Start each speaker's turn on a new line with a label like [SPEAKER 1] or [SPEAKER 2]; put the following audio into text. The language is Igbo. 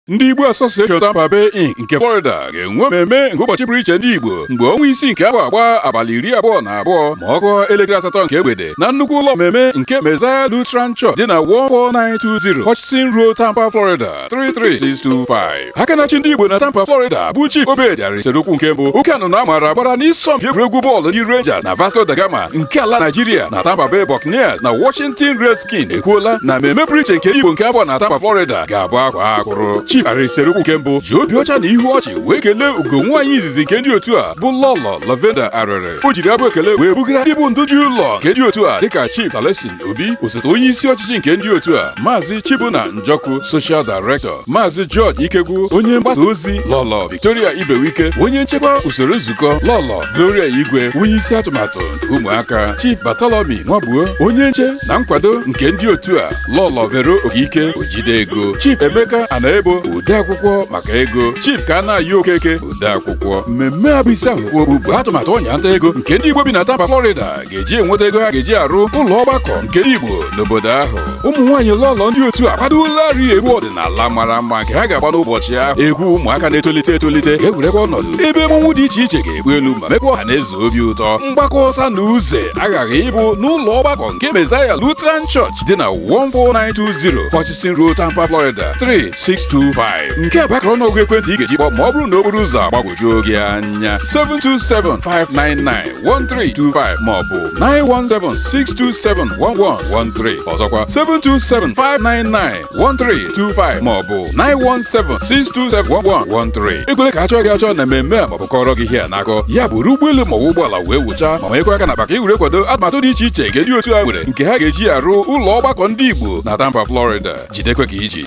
[SPEAKER 1] ndị Igbo Association Tampa Bay Inc nke Florida ga-enwe mmemme nke ụbọchị pụrụ iche ndị Igbo mgbe ọnwa isii nke afọ a gba abalị iri abụọ na abụọ ma ọ kụọ elekere asatọ nke egbede na nnukwu ụlọ mmemme nke Messiah Lutheran Church dị na 14920 Hutchinson Road Tampa Florida 33625 aka na-achị ndị Igbo na Tampa Florida bụ Chief Obed Arịrị Serukwu nke mbụ oke anụnụ a maara gbara n'isọmpi egwuregwu bọọlụ ndị Rangers na Vasco da Gama nke ala Nigeria na Tampa Bay Buccaneers na Washington Red skins ekwuola na mmemme pụrụ iche nke Igbo nke afọ a na Tampa Florida ga-abụ akwaa akwụrụ Chief Arịrị Serukwu nke mbụ ji obi ọcha na ihu ọchị wee kelee ugo nwaanyị izizi nke ndị otu a bụ Lọlọ Lavenda Arịrị o jiri abụ ekele wee bugara ndị bụ ndị ji ụlọ nke ndị otu a dịka Chief Talesin Obi osote onye isi ọchịchị nke ndị otu a Maazị Chibunna Njọkụ Social Director Maazị George Ikegwu onye mgbasa ozi Lọlọ Victoria Ibewike onye nchekwa usoro nzukọ Lọlọ Gloria Igwe onye isi atụmatụ nke ụmụaka Chief Bartholomew Nwabuo onye nche na nkwado nke ndị otu a Lọlọ Vero Okike ojide ego Chief Emeka Anaebo odeakwụkwọ maka ego Chief Kanayọ Okeke odeakwụkwọ mmemme a bụ isi ahụ bụ atụmatụ ọnya nta ego nke ndị Igbo bi na Tampa Florida ga-eji enweta ego ha ga-eji arụ ụlọ ọgbakọ nke Igbo n'obodo ahụ ụmụ nwaanyị lọlọ ndị otu a kwadolarị egwu ọdịnala mara mma nke ha ga-agba n'ụbọchị ahụ egwu ụmụaka na-etolite etolite ga-ewerekwa ọnọdụ ebe mmọnwụ dị iche iche ga-egbu elu ma mekwa ọha na eze obi ụtọ mgbakọ ọsa na uze aghaghị ịbụ n'ụlọ ọgbakọ nke Messiah Lutheran Church dị na 14920 Hutchinson Road Tampa Florida 33625 nke a bụ akara ọnụọgụ ekwentị ị ga-eji kpọọ ma ọ bụrụ na okporo ụzọ agbagwojuo gị anya 727 599 1325 maọbụ 917-627-1113 ọzọkwa 727-599-1325 maọbụ 917-627-1113 ekwele ka a chọọ gị achọọ na mmemme a maọbụ kọọrọ gị ihe a n'akọ ya bụrụ ụgbọelu maọbụ ụgbọala wee wụchaa ma manyekwa aka n'akpa ka i were kwado atụmatụ dị iche iche nke ndị otu a nwere nke ha ga-eji arụ ụlọ ọgbakọ ndị Igbo na Tampa Florida jidekwa ka i ji